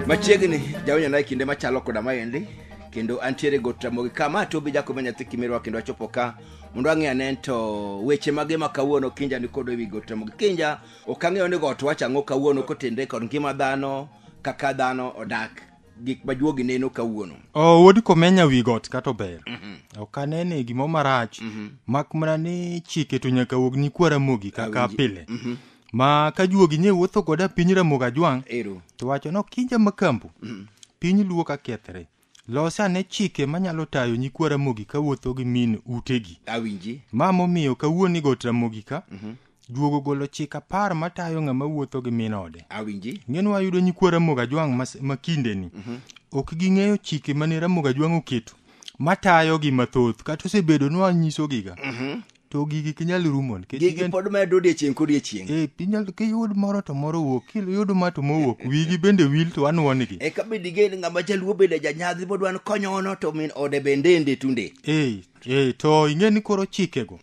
machiegni jawinjo naye kinde machalo koda maendi kendo antiere go tramogi ka ma tobi jakobe nyathi kimirwa kendo achopo ka mondo ang'e ane to weche mage ma kawuono kinja nikodo ewi go tramogi kinja ok ang'eyo ni got wach ang'o kawuono kotenre kod ngima dhano kaka dhano odak gik ma juogi neno kawuono oh, wuod komenya wi got kata ober mm -hmm. ok anene gimo marach mm -hmm. mak mana ni chike to nyaka wuog ni kwara mogi kaka Awinji. pile mm -hmm. ma ka juogi nye wuotho goda piny ramogo ajwang' to wacho no kinja makambo mm -hmm. piny luo ka kethre los ane chike manyalo tayo nyikwa ramogi kawuotho gi min utegi awinji ma momiyo kawuoni got ramogi ka mm -hmm. Juogo golo chik apar matayo ng'ama wuotho gi min ode. Awinji. Ng'eno wayudo nyikwa Ramogi Ajwang' mas- ma kindeni. Ok ging'eyo chike mane Ramogi Ajwang' oketo matayogi mathoth kata osebedo ni wanyisogiga. To gigi ok inyal rumo nikech Gigi gin- pod medo odiechieng' kodiechieng'. Eh, inyal kiyud moro to moro wuok, kiyud ma to mowuok, wigi bende wil to anwonigi. E ka bende igen ng'ama jaluo bende janyadhi modwa ni konyono to min ode bende ende tunde. Eh, Ee, to ing'e ni koro chikego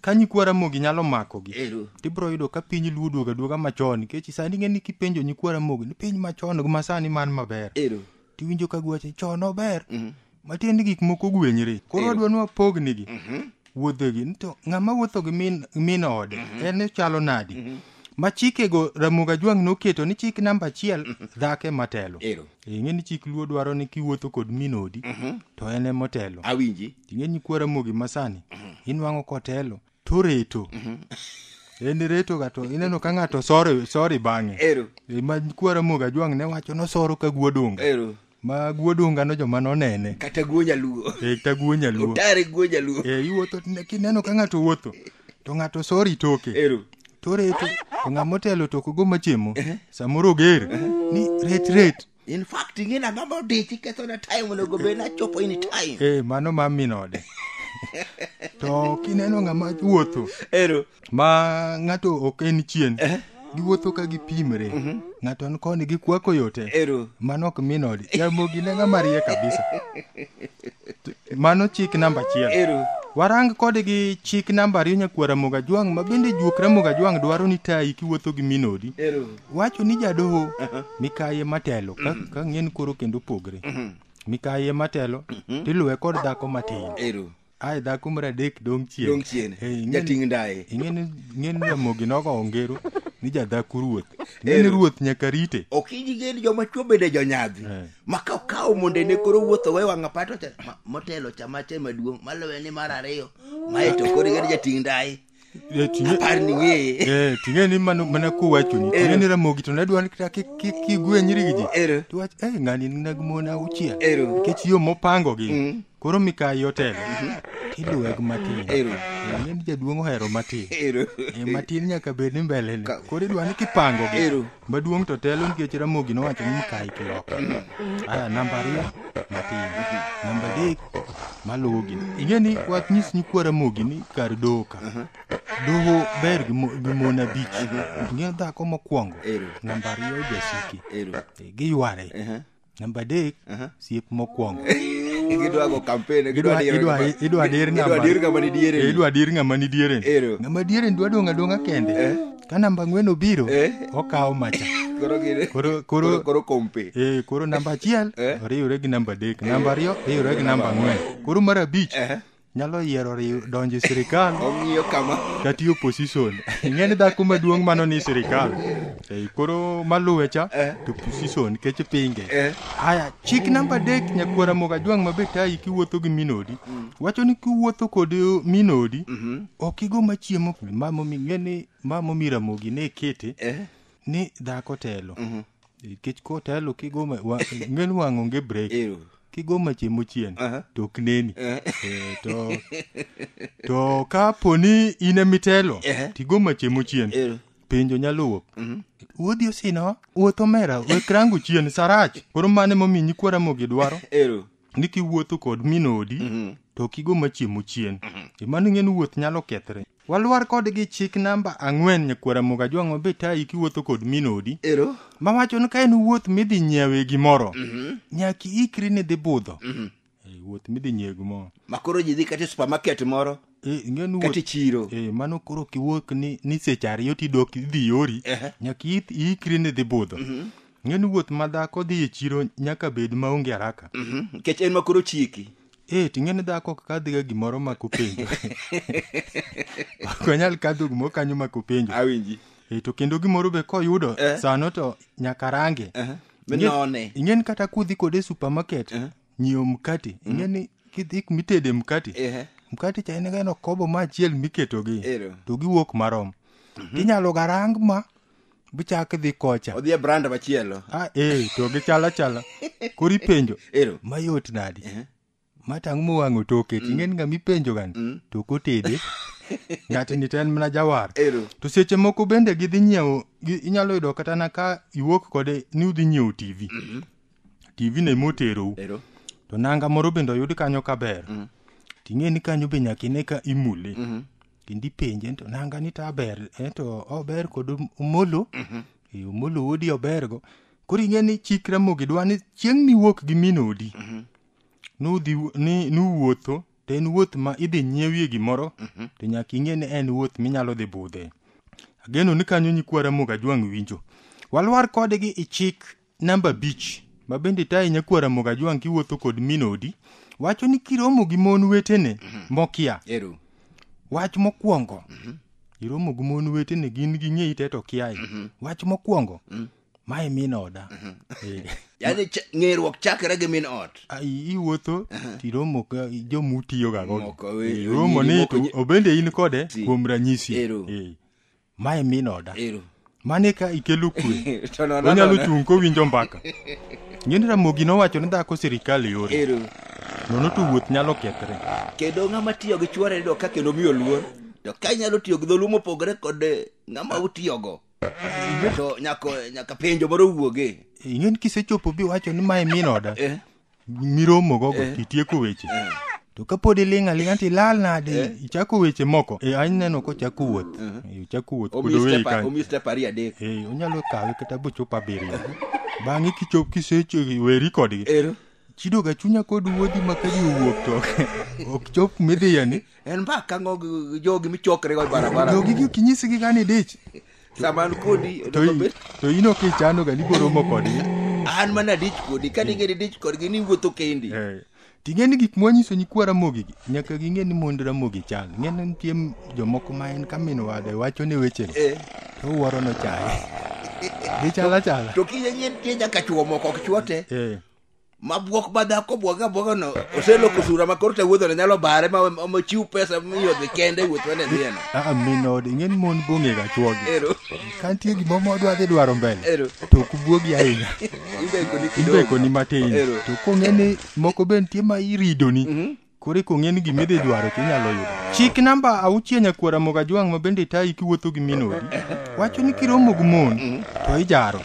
ka nyikwa ramogi nyalo makogi Ero. tibiro yudo ka piny luo duoga duoga machon nikech sani ing'e ni kipenjo nyikwa ramogi ni piny machon gi masani man maber Ero. tiwinjo ka gwache chon ober matiende gik moko ogwenyre koro Ero. adwa ni wapognigi wuodhegi ni to ng'ama wuotho gi min- min ode en ochalo nadi ma chikego ramoga jwang' noketo ni chik namba achiel dhake matelo Ero. ing'e ni chik luo dwaro ni kiwuotho kod min odi to en emotelo awinji ing'e ni kwara mogi masani inwang'o kotelo to reto en reto ga to ineno ka ng'ato sore sori bang'e ero E, ma kwara mogi ajwang' ne wacho nosoro ka guodunga ero ma guodunga no joma nonene kata guo nyaluo e ta guo nyaluo otare guo nyaluo e iwuotho tine- kineno ka ng'ato wuotho to ng'ato sori toke ero to reto to ng'ama motelo to kogo machemo eh? samoro oger eh? ni ret ret in fact ing'ena ng'ama odichi kethona time onego bed nachopo in time ee eh, mano ma min ode to kineno ng'ama wuotho ero ma ng'ato ok en chien eh? giwuotho ka gipimre mm -hmm. ng'ato an koni gikwako yote ero mano ok min ode jamogi ne ng'ama rie kabisa mano chik namba achiel ero warang kode gi chik namba ariyo nyakwara moga jwang' ma bende juokra moga jwang' dwaro ni tayi kiwuotho gi minodi ero wacho ni jadoho mikaye matelo ka, ka ng'en koro kendo pogre mikaye matelo tiluwe kod dhako matin ero ae dhako mar adek dong chien dong chien Eh, ing'eni- jating' ndaye ing'eni ing'eni ramogi nogo ongero ni jadhaku ruoth ing'eni Ero. ruoth nyaka rite okiji geni joma chwo bende jonyadhi Eh. ma ka okawo mondo ene koro wuotho we wang'a pato cha ma- motelo cha mache maduong' maluwe ni mar ariyo mae to koro igani jating' ndai Eh, ting'e- apar ni ng'eye eh, ting'e ni mano- mana kowachoni ting'e ni ramogi to nadwa ni kata kik- kik kigwe nyirigi ji ero tiwach eh, ng'ani nag mon auchiel ero nikech yo mopangogi koro mikayi otelo tiluweg matin Ero. Eh, ing'e ni jaduong' ohero matin Ero. Eh, matin nyaka bed ni mbelene Ka- koro idwa ni kipango gi Ero. maduong' to telo nikech ramogi nowacho ni mikayi kiloka aya namba ariyo matin namba adek maluwo gi ing'e ni wach nyis nyikwa ramogi ni kar doho ka doho ber gi mo- gi mon abich ing'e dhako mokwongo Ero. namba ariyo jasiki Ero. Eh, giyware Ehe. namba adek Aha. siep mokwongo gidwa go campaign gidwa dir idwa kama- idwa dir idwa namba dir kama ni diere Eh, idwa dir ng'ama ni dieren Ero. ng'ama dieren dwa dong' adong'a kende Eh. ka namba ang'wen obiro Eh. okawo macha koro gine Koro- koro- koro kompe Eh, koro namba achiel Eh. oriwre gi namba adek namba ariyo riwre gi namba ang'wen koro mar abich Eh. nyalo yiero riw donjo e sirikal ong'iyo kama kata e opposition ing'e ni dhako maduong' mano ni sirikal Eh, koro maluwe cha Eh. to opposition nikech pinge Eh. haya chik namba adek nyakwara moga jwang' mabe tayi kiwuotho gi minodi wacho ni kiwuotho kod minodi ok igo machiemo mamomi ng'e ni mamomi ramogi ne ikete Eh. ni dhako telo kech kotelo kigo ma- wa- ng'en wang' onge break Ero. kigo mache mochien Aha. to ok neni Eh. Eh, to to ka poni in emitelo Eh. tigo mache mochien Ero. penjo nyaluwo wuodhi osino wuoth omera wekrangu chien sarach koro mane momi nyikwara mogi dwaro Ero. ni kiwuotho kod min odi Mhm. to kigo machiemo chien e mano ing'e ni wuoth nyalo kethre walwar kodgi chik namba ang'wen nyakwara moga jwang'o be tayi kiwuotho kod min odi ero mawacho ni ka en wuoth midhi nyiewe gimoro nyaka iikri ni dhi budho e wuoth midhi nyiewe gimoro makoro ji dhi kata e supermarket moro Eh, ing'e ni kata wuoth e chiro eh, mano koro kiwuok ni, ni seche ariyo tidok idhi yori Ehe. nyaka i- iikri ni dhi budho ing'e ni wuoth ma dhako dhi e chiro nyaka bed maonge haraka Mhm, nikech en makoro chiki eh, ting'e ni dhako ok kadhiga gimoro mak openjo ok onyal kadho gimoro kanyo mak openjo awinji Eh, to kendo gimoro be koyudo Eh. sano to nyaka range Aha. Ing'e- Minone. ing'e ni kata kudhi kode e supermarket nyiewo mkati mm. ing'e ni kidhi kumitede mkati Ehe. mkati cha en gano kobo ma achiel miketogi Ero. to giwuok marom tinyalo garang ma bichak dhi kocha odhi e brand machielo a e to gichal achala koro ipenjo ero mayot nadi ma tang' mowang'o toke ting'en ng'ama ipenjo gani to kotede ng'atni to en mana jawar ero to seche moko bende gidhi nyiewo gi- inyalo yudo kata na ka iwuok kode ni udhi nyiewo tv tv no ema oterou Ero. to nanga moro bende oyud kanyo kaber mm. ting'e ni kanyo be nyaka ine ka imule mm -hmm. kendo ipenje to nanga ni ta ber eh, to ober kod omolo mm -hmm. e, eh, omolo wuodi obergo koro ing'e ni chik ramogi dwa ni chieng' miwuok gi min odi mm -hmm. nudhi ni nuwuotho to en wuoth ma idhi nyiewie gimoro mm -hmm. to nyaka ing'e ni en wuoth minyalo dhi budhe ageno ni kanyo nyikwa ramogi ajwang' winjo walwar kodgi ichik Namba abich ma bende tayi nyakwar Ramogi Ajwang' kiwuotho kod min odi wacho ni kiromo gi mon wetene mokia Ero. wach mokwongo iromo gi mon wetene gin ging'eyi te to kiayi wach mokwongo mae min oda Eh. Yaani ch- ng'eruok chakre gi min ot. Ah, i- iwuotho tiromo ka joma utiyoga Moko, godo eh, Eh, iromo nyiri ni moko to je- obende in kode Si. kuom ranyisi Ero. Eh. mae min oda Ero. mane ka ikelo kwe To nono onyalo nono. chung' kowinjo mbaka ng'eni ramogi nowacho ni dhako sirikal yore Ero. nono to wuoth nyalo kethre Kendo ng'ama tiyo gi chuore do ka kendo miyo luor. To ka inyalo tiyo gi dholuo mopogore kod eh, ng'ama utiyogo. To nyako nyaka penjo moro wuoge. ing'eni kisechopo biwacho ni mae min oda Eh. miromo gogo eh. titieko weche eh. to kapod iling' aling' to ilal nade eh. ichako weche moko e any neno kochako wuoth uh-huh. ochako wuoth kodowei kanyo onyalo kawe kata bochop abiriyo bang'e kichop kiseweri kodgi chido ga chunya kod wuodhi ma ka ji owuok to ok chop midhiyani en mbaka ng'og jogi michokre go barabara jogi gi kinyisigi gani dich Saman kodi To onego i- bed to in ok ichano ga ni boromo kodgi an mana dich kodi ka ni ngeni dich kodgi ni wuotho kendi. Eh, ting'e ni gik mwanyiso nyikwa ramogi gi nyaka ging'e ni mond ramogi chal ng'e ni nitie m- jomoko ma en ka min wade wacho ne wechego Eh, to wuoro nochaye gichal achala to kiyie nyien tie nyaka chuo moko ok chuote. Eh, ma bwok ma dhako bwoge abwoga no oseloko sura ma koro te wuodho ne nyalo bare ma ma chiw pesa miyo dhi kende wuoth wane dhiyeno aa min ode ing'e ni mon bong'ega chwogi ero ka nitie gimoro modwa dhi dwaro mbele ero to ok bwogi ahinya imbeko ni kidogo imbekoni matin Ero. to kong'e ni moko be nitie ma iridoni Koro eko ng'e ni gima idhi dwaro to inyalo yudo. Chik namba auchiel nyakwara mogo ajwang' ma bende tayi kiwuotho gi min odi. Wacho ni kiromo gi mon to ijaro.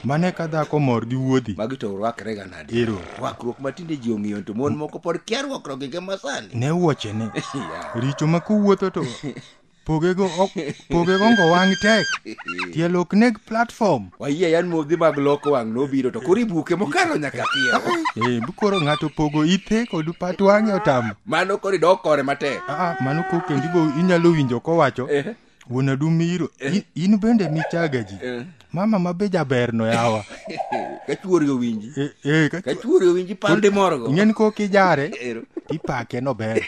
Mano eka dhako mor gi wuodhi. Magi to rwakre ga nade? Ero. Rwakruok ma tinde ji ong'iyo to mon moko pod kia rwakruok gi masani. Ne wuochene. Richo ma kowuotho to pogego ok pogego ngo wang' tek tielo ok neg platform wayie yan modhi mag loko wang' nobiro to koro ibuke mokalo nyaka piyo eh bukoro ng'ato pogo ithe kod pat wang'e otamo mano koro idok kore matek aa mano ko kendo ibo inyalo winjo kowacho Eh. wuon adumiro in bende michaga ji Eh. mama ma be jaberno yawa ka chuori owinji Eh, eh, ka ka chu- chuori owinji pande morogo ing'eni kok ijare Ero. tipake no ber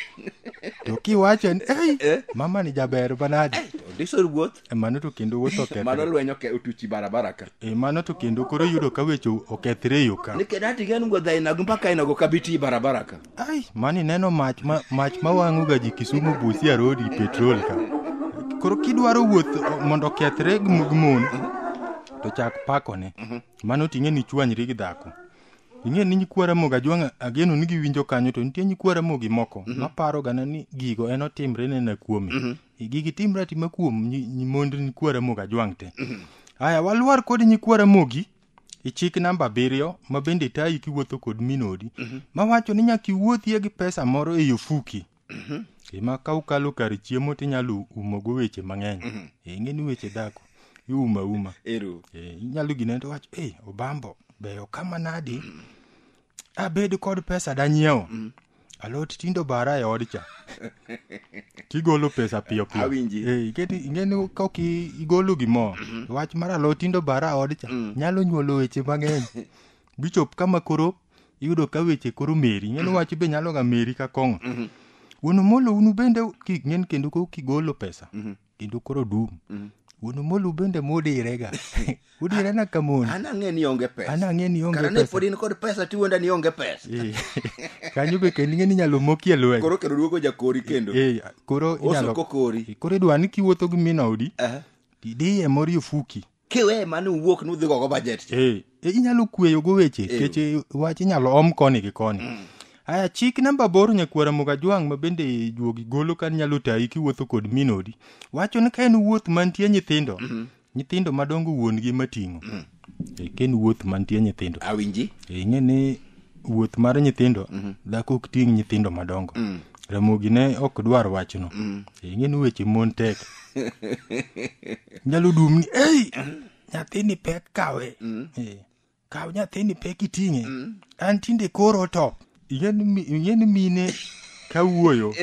to kiwache ni ei Eh. mama ni jaber banadi odisor wuoth E, mano to kendo wuoth mano okethre lweny oke- otuchi barabara ka E, mano to kendo koro yudo ka weche okethre e yo ka ni kedati gen go dhainago mpaka inago kabiti barabara ka ai mani neno mach ma, mach mawang'oga ji kisumu busia rodi petrol ka koro kidwaro wuoth o- mondo okethre gi mo- gi mon to chak pakone mano ting'e ni chwanyri gi dhako ing'e ni nyikwa ramogi ajwang' ageno ni giwinjo kanyo to nitie nyikwa ramogi moko maparogana ni gigo en otimre nena kuome gigi timre atima kuom nyi- nyi- mond nyikwa ramogi ajwang' te aya walwar kod nyikwa ramogi e chik namba abiriyo ma bende tayi kiwuotho kod minodi mawacho ni nyaka iwuothie gi pesa moro e ofuki ema ka ukalo kar chiemo tinyalo umogo weche mang'eny Eh, ing'e ni weche dhako iuma uma ero Eh, inyalo gine to wacho e obambo beyo kama nadi abed kod pesa danyiewo mm. alot tindo bara e odcha tigolo pesa piyo piyo awinji eh, ingeni ka ok igolo gimoro mm -hmm. wach mar alot tindo bara e odcha mm. nyalo nyuolo weche mang'eny bichop kama koro iyudo ka weche koro meri ing'eni wach be nyalo ga meri ka kong'o mm -hmm. wuon omolo unu bende king'en kendo ko kigolo pesa mm -hmm. kendo koro dum Mm. wuon omolu bende mudirega udirena ka mon an ang'e ni onge pesa an ang'e ni onge kara ne pesa pod in kod pesa tiwenda ni onge pesa Eh, kanyo be kendo ing'e ni inyalo mokie lweny koro kendo duogo jakori kendo Eh, koro inyalo osoko kori koro idwa ni kiwuotho gi min odi Aha. tidiye mori ofuki kiwe mane uwuok nudhi gogo bajet cha Eh, eh, inyalo kweyogo weche Eh. kech eh, wach inyalo om koni gi koni aya chik namba aboro nyakwara mogajwang' ma bende juogi golo kan nyalo tayi kiwuotho kod minodi wacho ni ka en wuoth mantie nyithindo nyithindo madongo wuon-gi mating'o Eh, ka en wuoth mantie nyithindo awinji Eh, ing'e ni wuoth mar nyithindo mm-hmm. dhako ok ting' nyithindo madongo mm. ramogi ne ok dwar wachno mm. e, ing'e ni weche mon tek nyalo dum ni ei nyathini pek kawe mm. e, kaw nyathini pek iting'e mm. an tinde koro to ing'e ni mine kawuoyo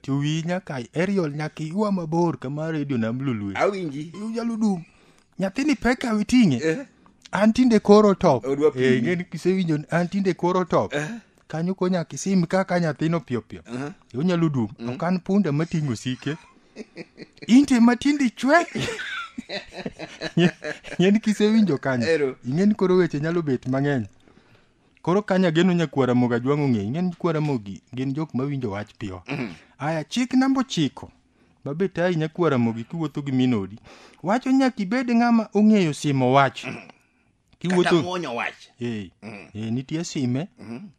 to wiyi nyaka aerial nyaka iywa mabor kama redio nam lulue awinji inyalo dum nyathini pek kawe ting'e Eh. an tinde koro top Odwa pimi. Eh, ing'e ni kisewinjo ni an tinde koro top Eh. kanyo ko nyaka isim kaka nyathino piyopiyo Aha. onyalo dum ok an punda mating'o osike inte matindi chwe ing'e ni kisewinjo kanyo Ero. ing'e ni koro weche nyalo bet mang'eny koro ka nyageno nyakwara mogo ajwang' ong'e ing'e ni kwara mogi gin jok mawinjo wach piyo aya chik namba ochiko mabe tayi nyakwara mogi kiwuotho gi minodi wacho nyaka ibed ng'ama ong'eyo simo wach kata kiwuotho muonyo wach Eh, eh, nitie sime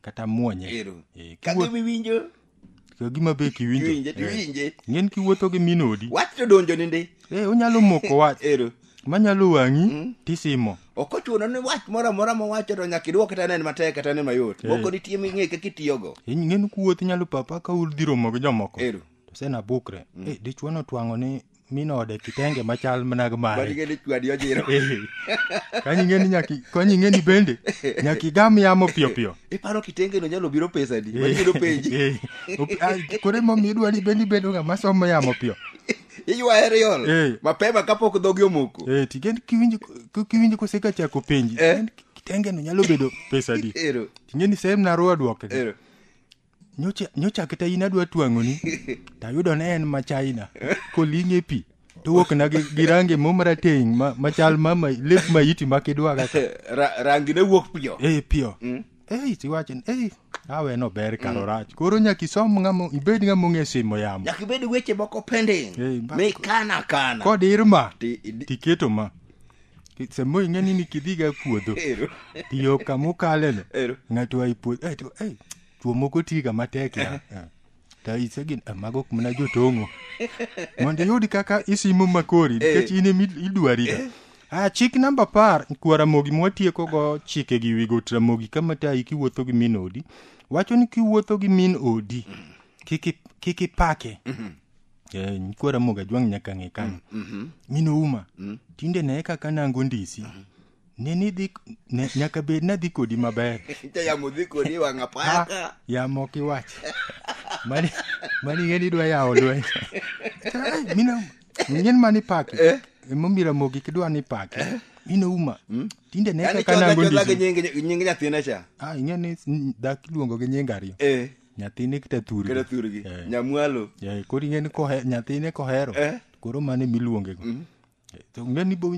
kata muonye ero Eh, ka kiwuotho- giwinjo ka gima be kiwinjo Kiwinje to iwinje. ng'en kiwuotho gi min odi Wach to donjo ni ndi. e onyalo moko wach Ero. manyalo wang'i tisimo Ok ochuno ni wach moro amora mowacho to nyaka idwok kata nen matek kata nen mayot. Eh. Moko nitie ming'e kaka itiyogo. In- ng'en kuwuoth inyalo papa ka udhi romo gi jomoko Ero. to sena bukre e dichuo notwang'o ni mi node kitenge machal mana gi mare Mani ngeni chwadi ojiro. Eh, kanyi ng'eni nyaki kanyi ng'eni bende nyaki igam yamo piyo piyo Iparo kitenge no nyalo biro pesa di. Mani biro penji. Eh, op- ah, koro emomiyo idwa ni bende ibedo ng'ama somo yamo piyo Iywa aerial. Eh. Mapema kapok dhogi omoko. Eh, tigen kiwinjo k- kiwinjo koseka chako penji Eh. tigen kitenge no nyalo bedo pesa di Ero. ting'eni sehemu naruwa dwoke Ero. nyocha nyocha kata in adwa twang'oni to ayudo ne en ma china koling' e pi to wuokna gi, gi range mo marateng' ma, machal ma ma- lep maiti ma kidwa kaka Ra- rangi ne wuok piyo ei piyo ei tiwacho ni ei awe no ber karo rach koro nyaka isom ng'amo ibed ng'ama ong'e simo yamo nyaka ibed weche moko pending Ei, ba- mikana kana kod irma Ti- idi- tiketo ma samoro ing'e ni nikidhiga puodho Ero. tiyo kama ukaleno Ero. ng'ato ai puodho eh, to, eh, chuo moko tiga matek ya Eh, to isegin eh, mago ok mana jotong'o mondo iyud kaka isimo makori nikech in emi idwariga Ah, chik namba par kwa ramogi mwatiekogo chike gi wigo to ramogi kama tayi kiwuotho gi min odi wacho ni kiwuotho gi min odi kik i- kik ipake eh, kwara moga jwang' nyaka ng'e kanyo Mhm. min ouma Mm. tinde ne kaka nango ndisi ne nidhi ne, nyaka bed nadhi kodi maber Cha yamo dhi kodi e wang' apaya ka. yamo ok iwach mani mani ng'e ni idwa yawo lweny Ai, min ouma ng'en mani paki Eh. emomira mogi kidwa ni paki min ouma tinde ne Yaani kaka chola nango chola gi ndisi nying- nying nyathina cha. Ah, ing'e ni mm, dak iluongo gi nying ariyo Eh. nyathine kata thurgi kata thurgi Eh. nyamwalo Eh, koro ing'e ni kohe- nyathine kohero Eh. koro mano ema iluonge go Eh, to ing'e ni bo-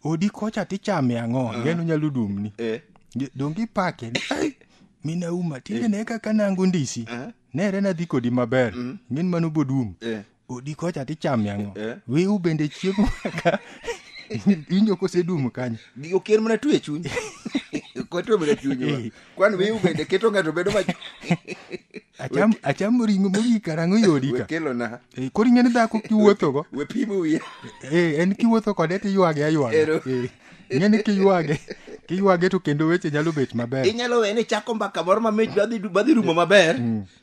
odi kocha tichame ang'o ing'e ni onyalo dumni Eh. Nge- donge ipake ni "Ai, min auma tinde ne kaka nango ndisi Eh. nere nadhi kodi maber ing'e ni mano bodum Eh. odi kocha tichamia ng'o Eh. wiu bende chiemo ka inyo kosedumu kanyo Gi- okier mana twe chuny koto mana chuny wa. Eh. kwan wiu bende keto ng'ato bedo ma acham achamo ring'o mogik karang'o yodi ka wekelo na Eh, koro ing'eni dhako kiwuothogo we pimo wiye Eh, en kiwuotho kode tiywage aywaga Ero. Eh, ing'eni kiywage kiywage to kendo weche nyalo bet maber inyalo wene chako mbaka moro mamit badhi badhi rumo maber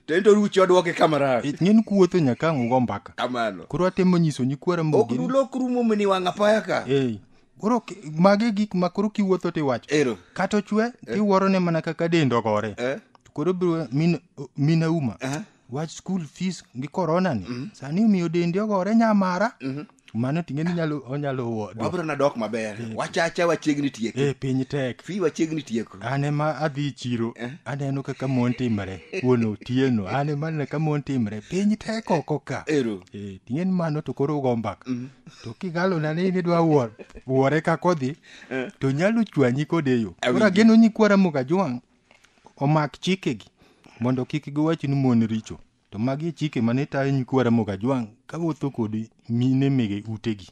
to en to ruchi odwoke kama rach Ich ng'en kuwuotho nyaka ang' ugo mbaka. kamano Koro atemo nyiso nyikwara ok mogi. dulok rumo mini wang' apaya ka Ei. Koro ki- mago e gik ma koro kiwuotho tiwacho. ero Kata ochwe tiwuoro ne mana kaka dend ogore. eh? To koro biro min min auma. Eh? Wach school fees gi corona ni. Sani omiyo dendi ogore nyamara. mano ting'e ni nyalo onyalo wuo wabro na dok maber wachacha wachiegni tieke e piny tek fi wachiegni tieko an ema adhi e chiro Eh. aneno kaka mon timre wuon otieno an ema aneno kaka mon timre piny tek oko ka ero Eh, ting'e ni mano to koro ugo mbaka to kigalona ni nidwa wuor wuore kakodhi to nyalo chwanyi kode yo koro Awinjo. ageno nyikwara mugajwang' omak chikegi mondo kik giwach ni mon richo To magi e chike mane tayo nyikwa Ramogi Ajwang' kawuotho kod mine mege utegi.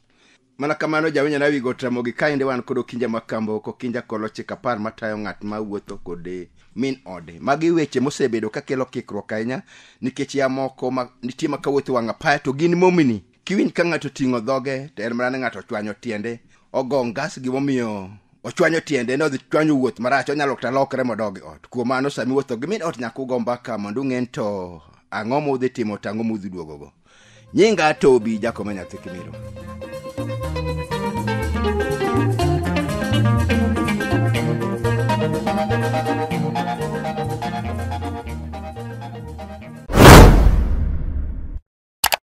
Mana kamano jawinyo na wigo Ramogi kaende wan kod Okinja Makambo kokinja kolo chik apar matayo ng'at ma wuotho kod min ode. Magi weche mosebedo kakelo kikruok ahinya nikech ya moko ma, nitie ma kawuotho wang' apaya to gin momini kiwinj ka ng'ato ting'o dhoge to en mana ni ng'ato ochwanyo tiende ogo ngas gimomiyo ochwanyo tiende ne odhi chwanyo wuoth marach onyalo kata lokre modogi ot kuom mano sami wuotho gi min ot nyaka ugo mbaka mondo ung'en to ang'o ma udhi timo to ang'o ma udhi duogogo nyinga tobi jakoma nyathi kimiro